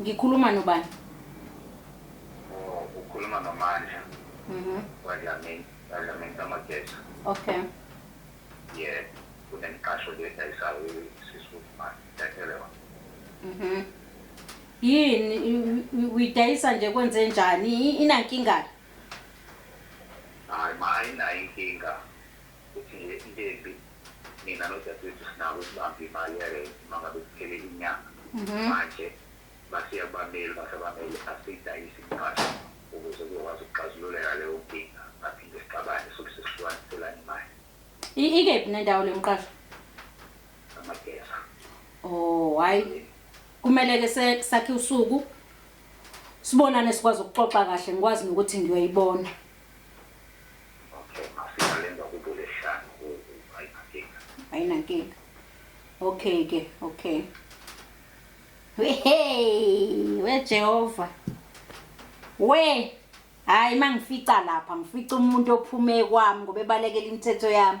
Ngikhuluma nobani? Oh, ukhuluma noMandla. Mhm. Wadlamini, wadlamini kaMageza. Okay. Yebo, kunemiqasho le edayisayo isisi uMandla. Ngiyatshela yona. Mhm. Yini i- i- uyidayisa nje kwenze njani? I- Inankinga. Hayi ma ayinayo inkinga. Uthi nje into embi mina nodadewethu sinako ukubamba imali yerenti uma ngabe kuphele inyanga. Mhm. Manje basiya kubameli, uma sabameli asiyidayise imigqasho ukuze kuzokwazi ukuxazululeka leyo nkinga. Ngaphinde sixabane sobe sesihlukaniselana imali. I- ikephi nendawo le mqasho Amageza. oh hayi kumele ke se- sakhe usuku sibonane sikwazi ukuxoxa kahle ngikwazi nokuthi ngiyoyibona Okay mafika lenza kubo lesihlanu ayinankinga. Ayinankinga. Okay ke, okay. Hey, we Jehova. We hayi mangifica lapha ngifica umuntu ophume kwami ngoba ebalekela imithetho yami.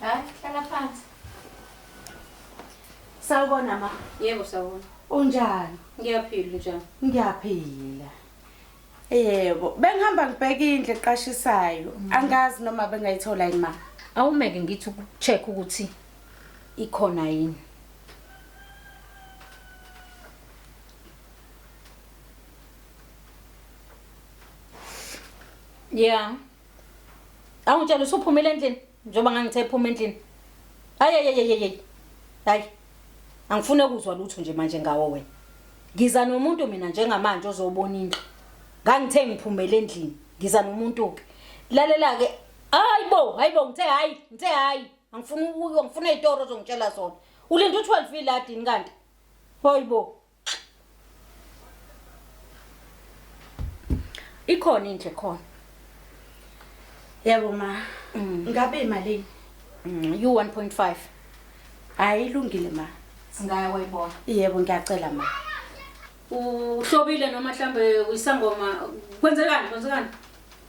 Hayi, hlala phansi. Sawubona ma. Yebo sawubona. Unjani? Ngiyaphila njani? Ngiyaphila. Yebo, bengihamba ngibheka indlu eqashisayo. Mm. Angazi noma bengayithola yini ma. Awumeke ngithi ukucheck ukuthi ikhona yini. Yeah. Awungitshela usuphumile endlini njengoba ngangithe ephuma endlini. Hayi hayi hayi hayi. Hayi. Angifune ukuzwa lutho nje manje ngawo wena. Ngiza nomuntu mina njengamanje ozobona indlu. Ngangithe ngiphumele endlini. Ngiza nomuntu ke. Lalela ke. Hayibo, hayibo ngithe hayi, ngithe hayi. Angifuni ukuyo, ngifuna izitoro ozongitshela zona. Ulinda u12 iladini kanti. Hayibo. ikhona into ekhona yebo ma mm. ngabe imalini mm, you 1.5 hayi ilungile ma singaya wayibona yebo ngiyacela ma uhlobile noma mhlambe uyisangoma kwenzekani kwenzekani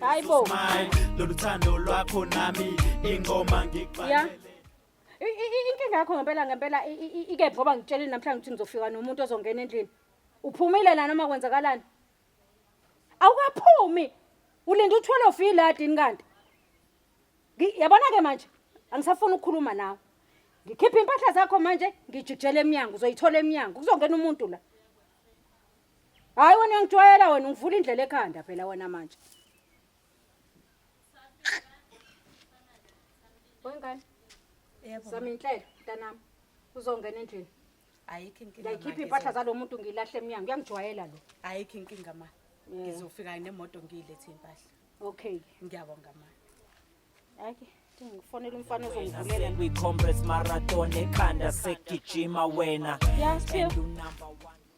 hayibo loluthando lwakho nami ingoma ngiqale inkinga yakho ngempela ngempela ikephi ngoba ngitsheleni namhlanje ukuthi ngizofika nomuntu ozongena endlini uphumile la noma kwenzakalani awukaphumi ulinda uthwele ofi la dini kanti yabona ke manje angisafuni ukukhuluma nawe ngikhipha impahla zakho manje ngijikjela emnyango uzoyithola emnyango kuzongena umuntu la Hayi wena uyangijwayela wena ungivula indlela ekhanda phela wena manje. Wengane. Yebo. Sami inhlelo mntanami. Uzongena endlini. Ayikho inkinga. Ngiyayikhipha impahla zalomuntu ngilahle emnyango. Uyangijwayela lo. Ayikho inkinga ma. Ngizofika nemoto ngiyilethe impahla. Okay. Ngiyabonga ma. Ayike. ngifonela umfana ozongivulela kwi-comrades marathon ekhanda segijima wena and unumber one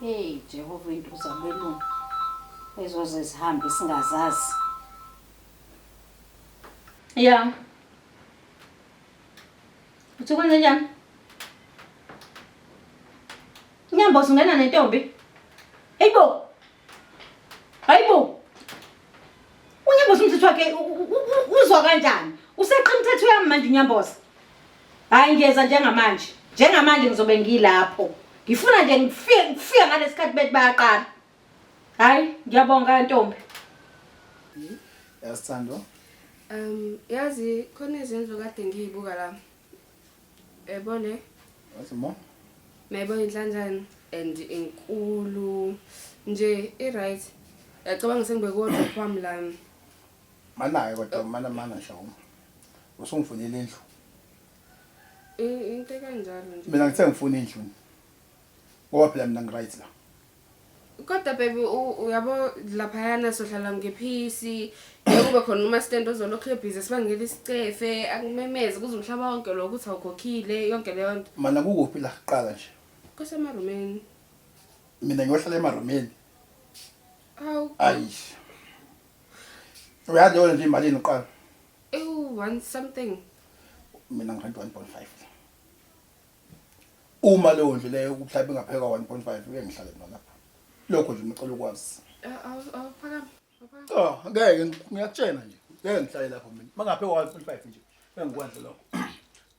Hey Jehova into zabelungu ezoze zihambe singazazi. Yeah. Uthi kwenze njani? Nyambo singena nentombi. Hey bo. Hayibo. Unyamboza umthetho wakhe uzwa kanjani? Useqa umthetho yami manje unyamboza. Hayi ngiyeza njengamanje. Njengamanje ngizobe ngilapho. Ngifuna nje ngifike ngifike ngalesikhathi bethi bayaqala. Hayi ngiyabonga ntombi. Yasithando. Um yazi khona izindlu kade ngiyibuka la. Yebo le. Wathi ma. Nayibo inhlanjani and inkulu nje i right. Yacabanga sengibe kodwa kwami lana. Mana ke kodwa mana mana shawuma. Usungifunela indlu. Into kanjalo nje. Mina ngithe ngifuna indlu. Ngoba phela mina ngiright la. kodwa baby uyabo laphayana sohlala ngephisi kube khona umastand ozolokhu ebhizi sibangela isicefe akumemeze kuze umhlaba wonke lo ukuthi awukhokhile yonke leyo nto mana kukuphi la kuqala nje kusemarumeni mina ngiyohlala emarumeni awu ayish uyazi yona nje imalini uqala ewu one something mina ngi-1.5 uma leyo ndlu leyo ukuhlaba ingaphekwa 1.5 uye ngihlale mina lapha lokho nje ngicela ukwazi awuphakami cha ngeke ngiyakutshena nje ngeke ngihlale lapho mina mangaphekwa 1.5 nje engikwenze lokho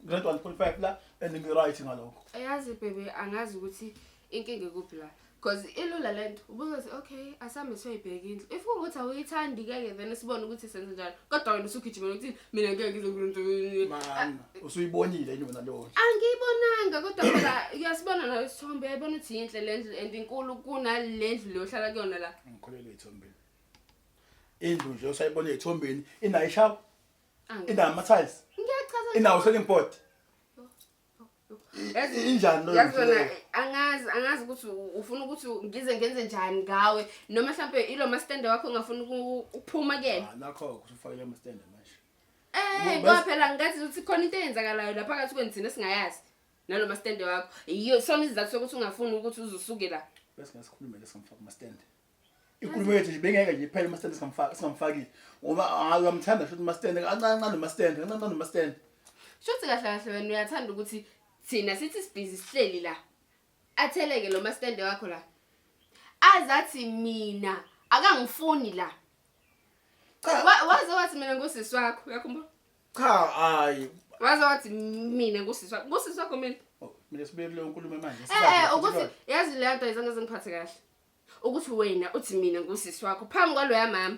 grade 1.5 la and ngi-right ngalokho yazi bebe angazi ukuthi inkinga ikuphi la because ilula le nto ubuzothi okay asambe siyoyibheka indlu if kungukuthi awuyithandi keke then sibone ukuthi senze njani kodwa wena usugijimela ukuthi mina ngeke ngizokwenza usuyibonile yini wena leyo angiyibonanga kodwa phela uyasibona nayo isithombe uyayibona ukuthi yinhle le ndlu and inkulu kunale ndlu leyo ohlala kuyona la ngikholelwe ethombeni indlu nje usayibona ethombeni inayo ishawa inayo ama-tiles inawo selling board injani loyo yazi wena angazi angazi ukuthi ufuna ukuthi ngize ngenze njani ngawe noma mhlawumbe ilo mastende wakho ongafuna ukuphuma kuyena ah, nakho kusufakele amastende manje eh ngoba phela ngathi ukuthi khona into eyenzakalayo lapha phakathi kweni thina singayazi nalo mastende wakho yiyo sona izizathu sokuthi ungafuni ukuthi uzusuke la bese ngasikhulume leso mfaka mastende inkulumo yethu nje bengeke nje iphele umasitende singamfaki singamfakile ngoba hayi uyamthanda shuthi umasitende kancane kancane umasitende kancane kancane umasitende Shuthi kahle kahle wena uyathanda ukuthi thina sithi sibhizi sihleli la. Atheleke lo mastende wakho la. Azathi mina akangifuni la. cha Wa- Waze wathi mina ngusisi wakho, uyakhumbula? cha hayi Waze wathi mina ngusisi wakho, ngusisi wakho mina. Oh, mina sibuye kuleyo nkulumo manje Eh eh ukuthi yazi le nto ayizange zingiphathe kahle. ukuthi wena uthi mina ngusisi wakho phambi kwaloya mama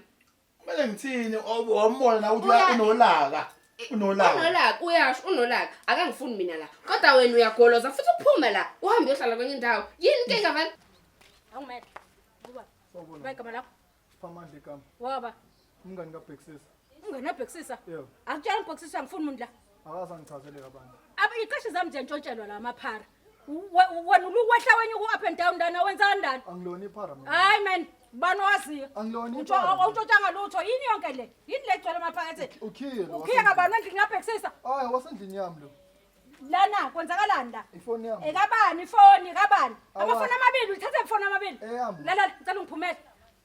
kumele ngithini obe wambona na ukuthi Uya- unolaka unolaka unolaka uyasho unolaka akangifuni mina la kodwa wena uyagoloza futhi uphume la uhambe uyohlala kwenye indawo yini ke ngavani Awumele. Buba. Sawubona. Bayigama lakho. Siphamandla igama. Waba. Umngani kabhekisisa. Umngani kabhekisisa? Yebo. Akutshela ubhekisisa ngifuna umuntu la. Akaza ngichazeleka abantu. Aba iqashi zami nje ntshotshelwa la maphara. Wena ulukwehla wenye ku up and down ndana wenza ndana. Angilona iphara mina. Hayi man, bani waziyo? Angilona iphara. Awutshotsanga lutho. Yini yonke le? Yini le gcwele maphakathi? Ukhiye lo. Ukhiye kabani endlini ngabhekisisa? Hayi wasendlini yami lo. lana kwenzakalani la ifoni yami ekabani ifoni kabani amafoni amabili uthathe ifoni amabili eh, lala ngicela ungiphumele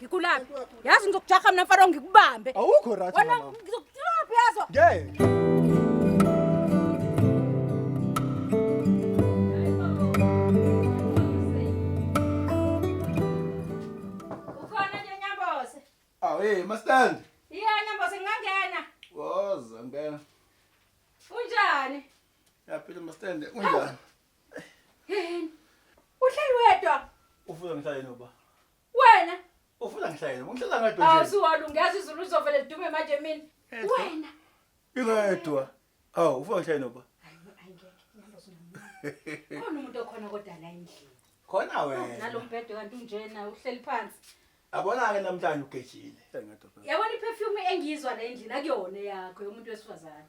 Ngikulaphi? Yazi ngizokujaha mina mfana ngikubambe. Awukho right Wena mama. ngizokutrap yazo. Ngeke. Ukhona nje Nyambose? Aw hey mastand. Iya Nyambose ngingangena. Woza ngena. Unjani? Yaphila mastand unjani? Yini? Uhleli wedwa? Ufuza ngihlale noba. Wena ufuna ngihlale ungihlala ngedwa nje. Awusuwona ungazi izulu uzovele lidume manje mina. Wena ingedwa. Awu ufuna ngihlale noba. Khona umuntu okhona kodwa la endlini. Khona wena. Nalombhedo kanti unjena uhleli phansi. Abona ke namhlanje ugejile. Yabona iperfume engiyizwa la endlini akuyona yakho yomuntu wesifazane.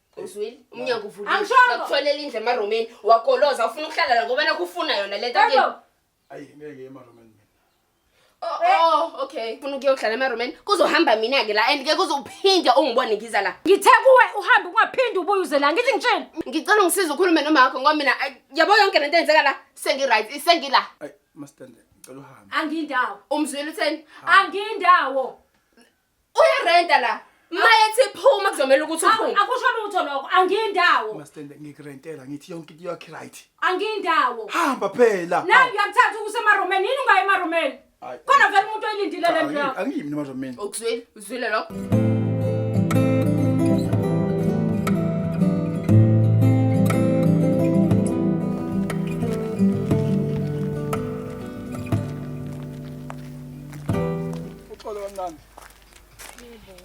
uzwile umnyango uvulile Angishongo. bakuthwalela indlu emarumeni wagoloza ufuna ukuhlala la ngoba nakho ufuna yona le nto yakini. Bhebho, ayi ngeke emarumeni mina Oh, oh, okay ufuna ukuyohlala emarumeni kuzohamba mina-ke la and ke kuzophinde ungibone ngiza la ngithe kuwe uhambe ungaphindi ubuye uze la ngithi ngitsheni ngicela ungisiza ukhulume noma wakho ngoba mina ay, yabo yonke le nto enzeka la sengi-right sengila ayi mastande ngicela uhambe angiyindawo umzwile utheni angiyindawo Uyarenta la. Mayethi phuma kuzomela ukuthi uphume. Akusho lutho lokho, angindawo. Mastende ngikurentela ngithi yonke into yakhe right. Angindawo. Hamba phela. Na ngiyakuthatha ukusema Roman, yini ungayi ema Roman? Khona vele umuntu oyilindile le nto yakho. Angiyimi ema Roman. Ukuzwile, uzwile lokho. Uxolo kancane. Yebo.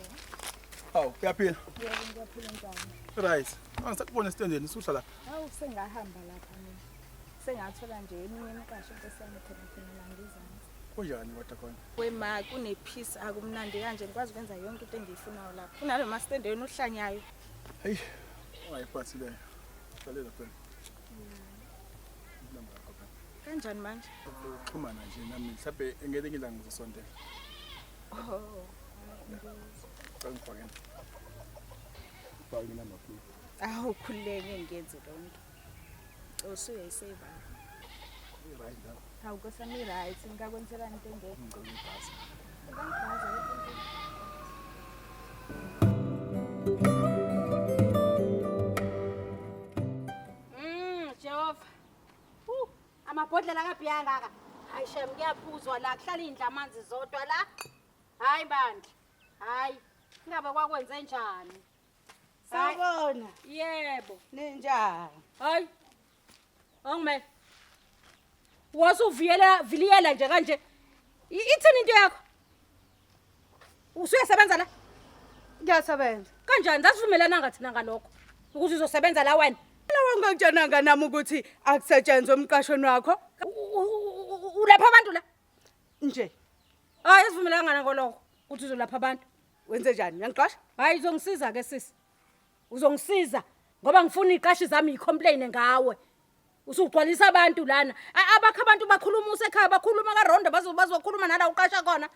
Hawu, uyaphila? Yebo, ngiyaphila njani? Right. Angisakubona esitendeni, usuhla la. Hawu, sengahamba lapha mina. Sengathola nje eminye imiqasho esesiyame khona khona la ngizansi. Kunjani kodwa khona? Wema kune peace akumnandi kanje ngikwazi ukwenza yonke into engiyifunayo lapha. Kunalo master endaweni ohlanyayo. Hey, ungayiphathi leyo. Qalela phela. kanjani manje xhumana nje nami mhlawumbe ngeke ngilanga ngizosondela oh ngifakeni bhayi mina makhulu awu khululeke ngiyenze lonto cosu uyayiseva right now Hawu Nkosi yami i-right, ngingakwenzelani into engekho. Ngicela ibhasi. Ungangibhaza yonke Mm, Jehova. Uh, amabhodlela kabhiya ngaka. Hayi shem kuyaphuzwa la kuhlala indla amanzi zodwa la. Hayi bandla. Hayi. Ingabe kwakwenze njani? Sawubona. Yebo. Ninjani? Hayi. Awungimele. Waze uviyela viliyela nje kanje. I- Ithini into yakho? Usuyasebenza la? Ngiyasebenza. Kanjani sasivumelananga thina ngalokho ukuthi uzosebenza la wena? Lawa ngikutshenanga nami ukuthi akusetshenzwe umqashweni wakho U- u- u- u- Ulapha abantu la? nje. Hayi asivumelanga ngalokho ukuthi uzolapha abantu. Wenze njani? Uyangixosha? Hayi izongisiza ke sisi. uzongisiza ngoba ngifuna iqashi zami yicomplain ngawe usugcwalisa abantu lana abakho abantu bakhuluma usekhaya bakhuluma karondo bazokhuluma nala uqasha khona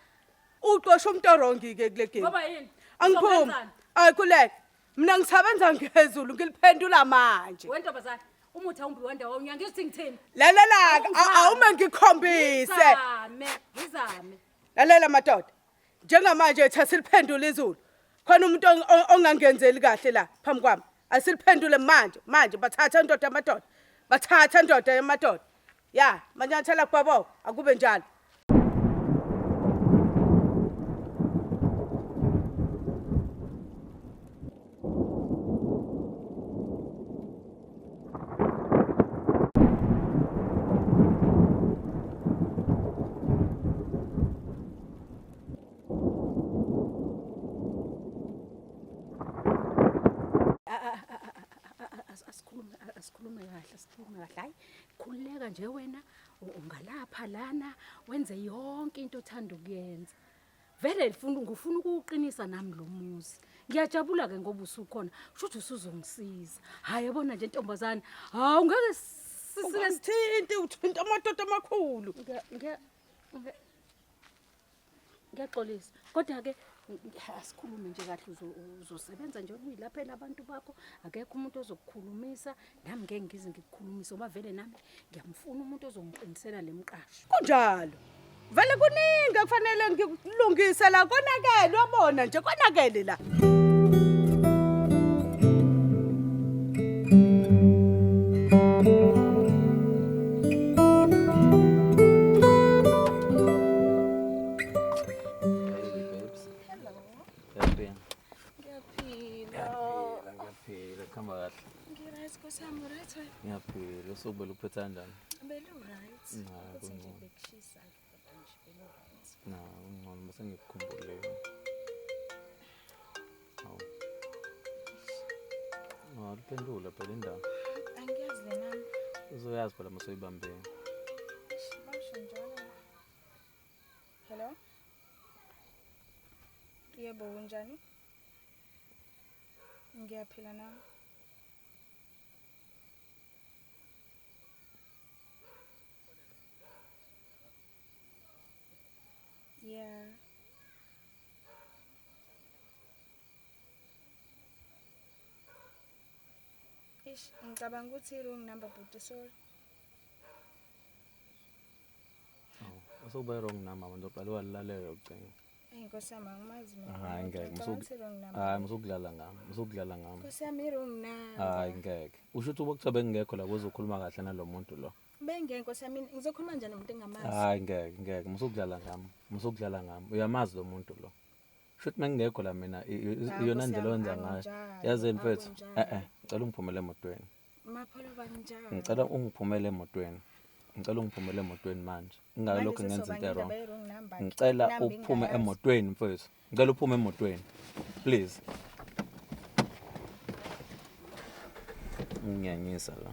uqosha umuntu orongi-ke kule game ngoba yini angiphumi ayikhuleke mina ngisebenza ngezulu ngiliphendula manje wentombazane umuthi awumbi wanda wawunya ngithi ngithini lalelaka awume ngikhombise ngizame lalela madoda Njengamanje ethi asiliphendule izulu. Khona umuntu ongangenzeli kahle la phambi kwami. Asiliphendule manje, manje bathatha indoda yamadoda. Bathatha indoda yamadoda. Ya, manyathela kubaboko, akube njalo. asikhulume kahle sikhulume kahle hayi khululeka nje wena ungalapha lana wenze yonke into othanda ukuyenza Vele lifuna ngifuna ukuwuqinisa nami lo muzi. Ngiyajabula ke ngoba usukhona. Shuthi usuzongisiza. Hayi yabona nje ntombazane. Hawu ngeke sisike Ungasithinti uthinta amadoda amakhulu. ngiya- ngiya- ngiya- ngiyaxolisa. Kodwa ke ngi- asikhulume nje kahle uzo- uzosebenza nje uyilaphe nabantu bakho. Akekho umuntu ozokukhulumisa nami ngeke ngize ngikukhulumise ngoba vele nami ngiyamfuna umuntu ozongiqinisela le mqasho kunjalo vele kuningi ekufanele ngikulungise la konakele uyabona nje konakele la Ngiyaphila. Ngiyaphila, ngiyaphila. Khamba kahle. Ngiryt Nkosi yami, uryt wena? Ngiyaphila. Usuku beluphetha kanjani? Beluryt. Cha, Ukuthi nje kungcono. bekushisa nje kodwa nje beluryt. Na, kungcono bese ngikukhumbule. Hawu. No, aliphendula phela indaba. Angiyazi le nami. Uzoyazi phela uma soyibambile. Eish, Basho njalo. Hello. Yebo unjani? Ngiyaphila na? Yeah. Ish, ngicabanga ukuthi i-wrong number bhuti sorry. Usube wrong number abantu oqale walilalela ucingo. Hayi Nkosi yami angimazi mina. Hayi ngeke hayi musukudlala ngami musukudlala ngami. Nkosi yami wrong number. Hayi ngeke. Usho ukuthi ubokuthiwa bengingekho la kuzokhuluma kahle nalomuntu lo. Bengeke Nkosi yami ngizokhuluma njani nomuntu engamazi. Hayi ngeke ngeke musukudlala ngami musukudlala ngami uyamazi lo muntu lo. Shuthi mengingekho la mina iyona ndlela owenza ngayo. Yazi mfethu eh eh cela ungiphumele emotweni. Mapholo banjani? Ngicela ungiphumele emotweni. Ngicela ungiphumele emotweni manje. Ingake lokho ngenza into wrong. Ngicela uphume emotweni mfowethu. Ngicela uphume emotweni. Please. Nginyanyisa la.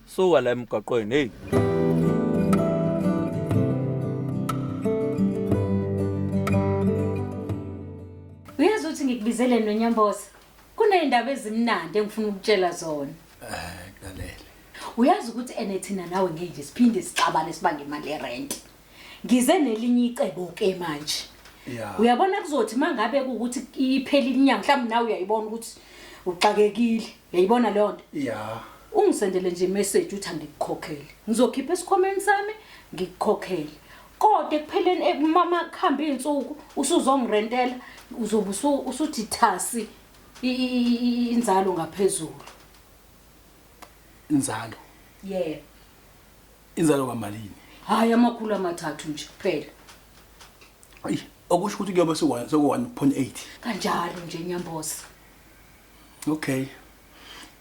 Suka la emgaqweni hey. Uyazi ukuthi ngikubizele nonyamboza. Kunezindaba ezimnandi engifuna ukutshela zona. Eh, Nalele. Uyazi ukuthi ene thina nawe ngeke siphinde sixabane sibange imali yerent. Ngize nelinye icebo ke manje. Yeah. Uyabona kuzothi mangabe ukuthi iphela inyanga mhlawumbe nawe uyayibona ukuthi uxakekile. Uyayibona leyo nto? Yeah. Ungisendele nje message uthi angikukhokhele. Ngizokhipha esikhomeni sami ngikukhokhele. Kodwa ekupheleni eh, mama kuhambe izinsuku usuzongirentela uzobe usuthi thasi inzalo ngaphezulu. Inzalo. Yeah. Inzalo kamalini? Hayi amakhulu amathathu nje kuphela. Ayi, okusho ukuthi kuyobe sekuwa- sekuwa-1.8. Kanjalo nje Nyambosi. Okay.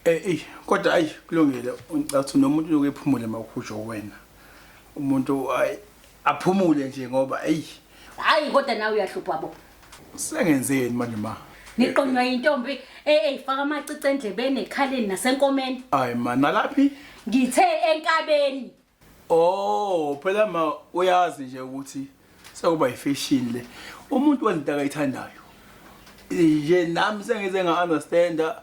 Eh, eyi, kodwa ayi kulungile. Ngicabanga ukuthi nomuntu uyoke ephumule mawukhujwa uwena. Umuntu ayi Aphumule nje ngoba ey. Hayi kodwa nawe uyahlupha bo. Sengenzeni manje ma? Niqonywa intombi eyifaka amacici endlebeni ekhaleni nasenkomeni. Hayi ma nalaphi? Ngithe enkabeni. Oh, phela ma uyazi nje ukuthi sekuba ifashion le. Umuntu wenza into akayithandayo. Nje nami sengize nga understanda